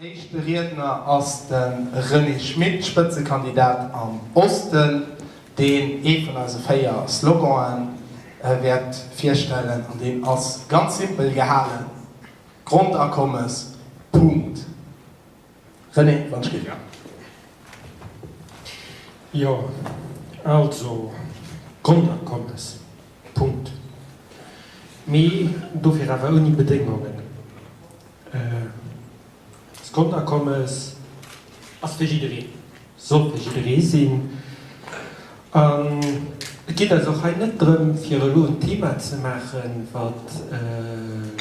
Éischte Riedner ass de René Schmit, Spëtzekandidat am Osten, deen ee vun eise véier Slogan'e wäert virstellen an deen ass ganz simpel gehalen, Grondakommes, Punkt. René Rentschler, Jo, also Grondakommes, Punkt. Mee dofir awer ouni Bedéngungen. D'Grondakommes ass fir jiddereen. Sollt e jidderee sinn. An et geet eis och hei net drëm, fir elo en Thema ze maachen, wat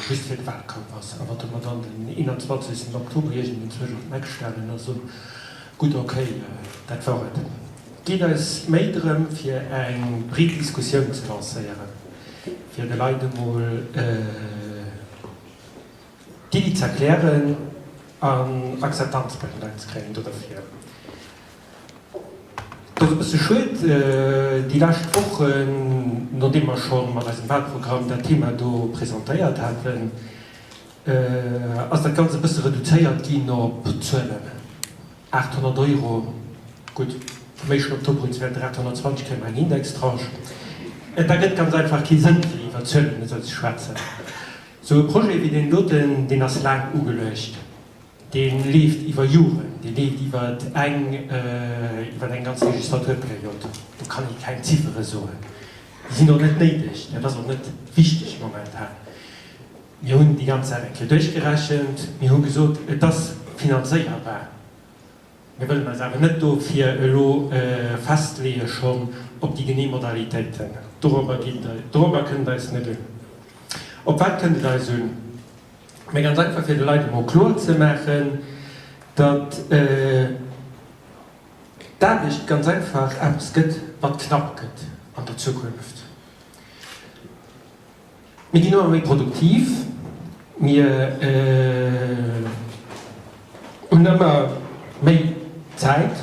just fir de Wahlkampf ass a wat mer dann den 21 Oktober iergendenzwousch op d'Map stellen a soen, Gutt, okay, dat wor et. Et geet eis méi drëm, fir eng breet Diskussioun ze lancéieren, fir de Leit emol, Déi z'erklären an Akzeptanz bei de Leit ze kréien do derfir. Et ass e bësse schued déi lescht Wochen, nodeem mer scho mat eisem Wahlprogramm dat Thema do presentéiert haten, ass dat Ganzt e bësse reduzéiert ginn op Zuelen. 800 Euro, gutt, vu méi schonn op d'Opbruchswäerter, 820 kréie mer eng Indextranche. Et ergëtt ganz einfach kee Sënn, fir iwwer Zuelen esou ze schwätzen. Esou e Projet wéi deen doten, deen ass laang ugeluecht, dee leeft iwwer Joren, dee leeft iwwer eng, iwwer eng ganz Legislaturperiod. Do kann ee keng Ziffere soen, déi sinn och net néideg, dat ass och net wichteg momentan. Mir hunn déi ganz Saach eng Kéier duerchgerechent. Mir hu gesot, et ass finanzéierbar. Mir wëllen eis awer net dofir elo festleeë schonn op déi genee Modalitéiten. Dorobber geet et, dorobber kënnt et eis net un. Op wat kënnt et eis un? Mä ganz einfach, fir de Leit emol kloer ze maachen, datt d'Aarbecht ganz einfach eppes gëtt, wat knapp gëtt an der Zukunft. Mir ginn ëmmer méi produktiv, mir hunn ëmmer méi Zäit,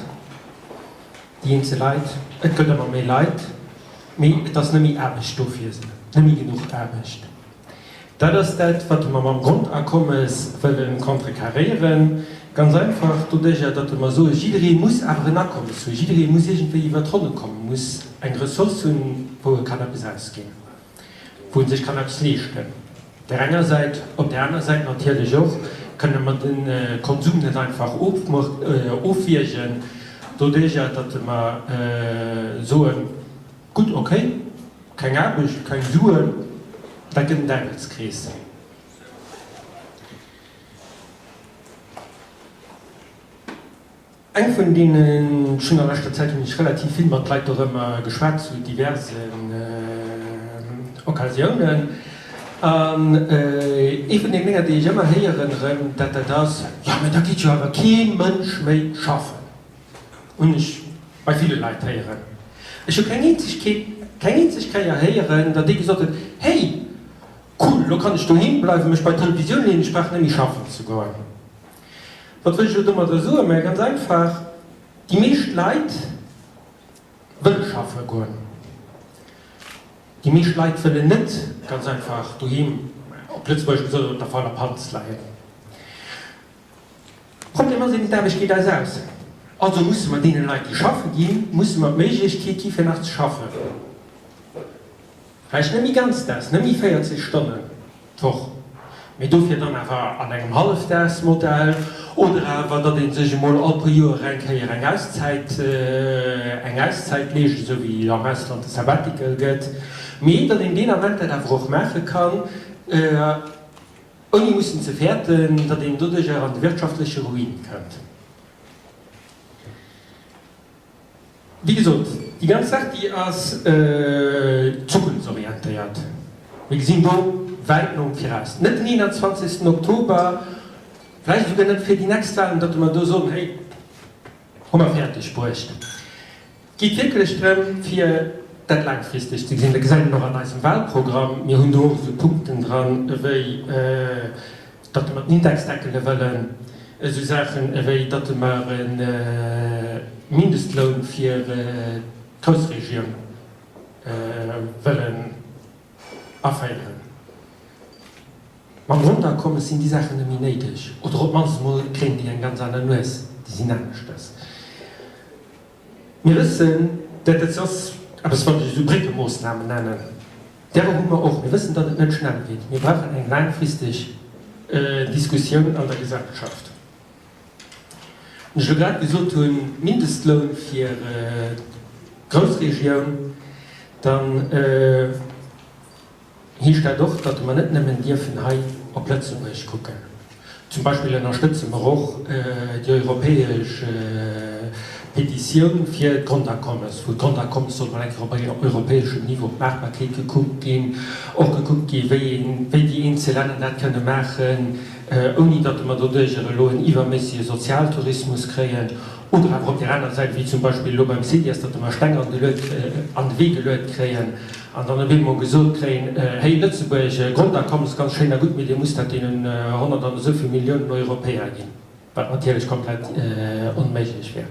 déi eenzel Leit, et gëtt ëmmer méi Leit, mee et ass net méi Aarbecht do fir se, net méi genuch Aarbecht. Dat ass dat, wat mer mam Grondakommes wëlle contrecarréieren, ganz einfach doduerjer, datt mer soen, Jidderee muss awer en Akommes hunn, jidderee muss iergendwéi iwwer d'Ronne kommen, muss eng Ressource hunn, wou e kann eppes ausginn. wou en sech kann eppes leeschten, op där enger Säit, op där aner Säit natierlech och kënne mer de Konsum net einfach ofwiergen doduerjer, datt mer soen, gutt okay, keng Aarbecht, keng Suen, dat gëtt en Däiwelskrees. Eng vun deenen, ech hunn a leschter Zäit hunn ech relativ vill mat Leit dorëmmer geschwat zu diversen Occasiounen, an ee vun den Dénger déi ech ëmmer héieren erëm, dat dat ass, jo mä da geet jo awer kee Mënsch méi schaffen, hunn ech bei ville Leit héieren. Ech hu keng eenzeg Kéier, keng eenzeg Kéier héieren, datt ee gesot huet, hey cool, elo kann ech doheem bleiwen, mech bei d'Televisioun leeën, ech brauch net méi schaffen ze goen. Wat wëll ech elo domadder soen? Mä ganz einfach, Déi meescht Leit wëlle schaffe goen. Déi meescht Leit wëllen net ganz einfach doheem, op Lëtzebuergesch gesot, op der fauler Panz leien. De Problem ass eben, d'Aarbecht geet eis aus. Also musse mer deene Leit, déi schaffe ginn, musse mer d'Méiglechkeet gi fir nach ze schaffen. Vläicht net méi ganzdaags, net méi 40 Stonnen d'Woch, mee dofir dann awer an engem Hallefdaagsmodell oder awer, datt ee sech emol all puer Joer eng Kéier eng Auszäit, eng Auszäit leescht, esou wéi am Ausland de Sabbatical gëtt, mee datt een deen Ament dat awer och maache kann, ouni mussen ze fäerten, datt een doduerjer an de wirtschaftleche Ruin kënnt. Wéi gesot, déi ganz Saach, déi ass zukunftsorientéiert. Mir gesinn do wäit nom viraus. Net den 21. Oktober, vläicht esouguer net fir déi nächst Wahlen, datt mer do soen, Hey, hu mer fäerdeg bruecht. Et geet wierklech drëm, fir dat laangfristeg ze gesinn. Dat gesäit een och an eisem Wahlprogramm. Mir hunn do och esou Punkten dran ewéi, datt mer d'Indexe deckele wëllen, esou Saache wéi datt mer e Mindestloun fir d'Groussregioun wëllen aféieren. Mam Grondakommes sinn déi Saachen net méi néideg, oder op d'mannst emol kréien déi eng ganz aner Nues, déi sinn aneschters. Mir wëssen, dat et soss eppes wann ech esou Bréckemoosnamen nennen, därer hu mer och, mir wëssen, datt et net schnell geet. Mir brauchen eng laangfristeg Diskussioun an der Gesellschaft. Wann ech elo grad gesot hunn, Mindestloun fir d'Groussregioun, dann, Hie stellt och, datt mer net nëmmen dierfen hei op Lëtzebuerg kucken. Zum Beispill ënnerstëtze mer och déi europäesch Petitioun fir d'Grondakommes, wou d'Grondakommes soll mol eng Kéier op europäeschem Niveau, d'Maachbarkeet gekuckt ginn, och gekuckt gi wéi déi eenzel Länner dat kënne maachen, ouni datt mer doduerjer elo en iwwerméissege Sozialtourismus kréien. Oder awer op där anerer Säit, wéi zum Beispill elo beim CIGES, datt mer Steng an de Wee geluet kréien. An dann op eemol gesot kréien, Hey, Lëtzebuerg, Grondakommen ass ganz schéin a gutt, mee Dir musst dat deenen honnert an esou vill Milliounen Europäer ginn, wat natierlech komplett onméiglech wär.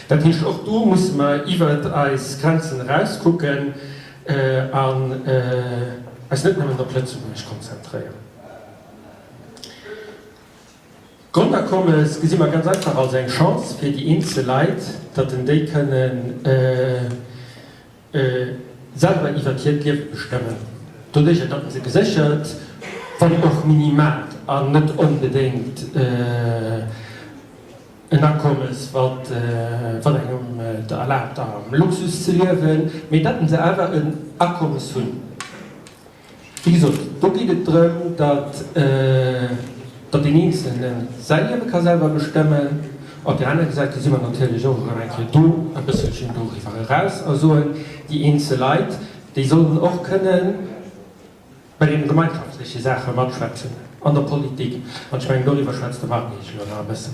Dat heescht, och do musse mer iwwert eis Grenzen eraus kucken an eis net nëmmen op Lëtzebuerg konzentréieren. D'Grondakommes gesi mer ganz einfach als eng Chance fir déi eenzel Leit, datt en déi kënnen selwer iwwert hiert Liewe bestëmmen. Doduerch gëtt dat se geséchert, wann och minimalt, an net onbedéngt en Akommes, wat engem et erlaabt am Luxus ze liewen, mee dat se awer en Akommes hunn. Wéi gesot, do geet et drëm, datt deen Eenzelne säi Liewe ka selwer bestëmmen. Op där anerer Säit si mer natierlech och erëm eng Kéier do e bësselchen doriwwer eraus a soen, déi eenzel Leit, déi sollen och kënne bei deene gemeinschaftleche Saache matschwätzen an der Politik. An ech mengen, doriwwer schwätzt de Marc Angel elo nach e bëssen.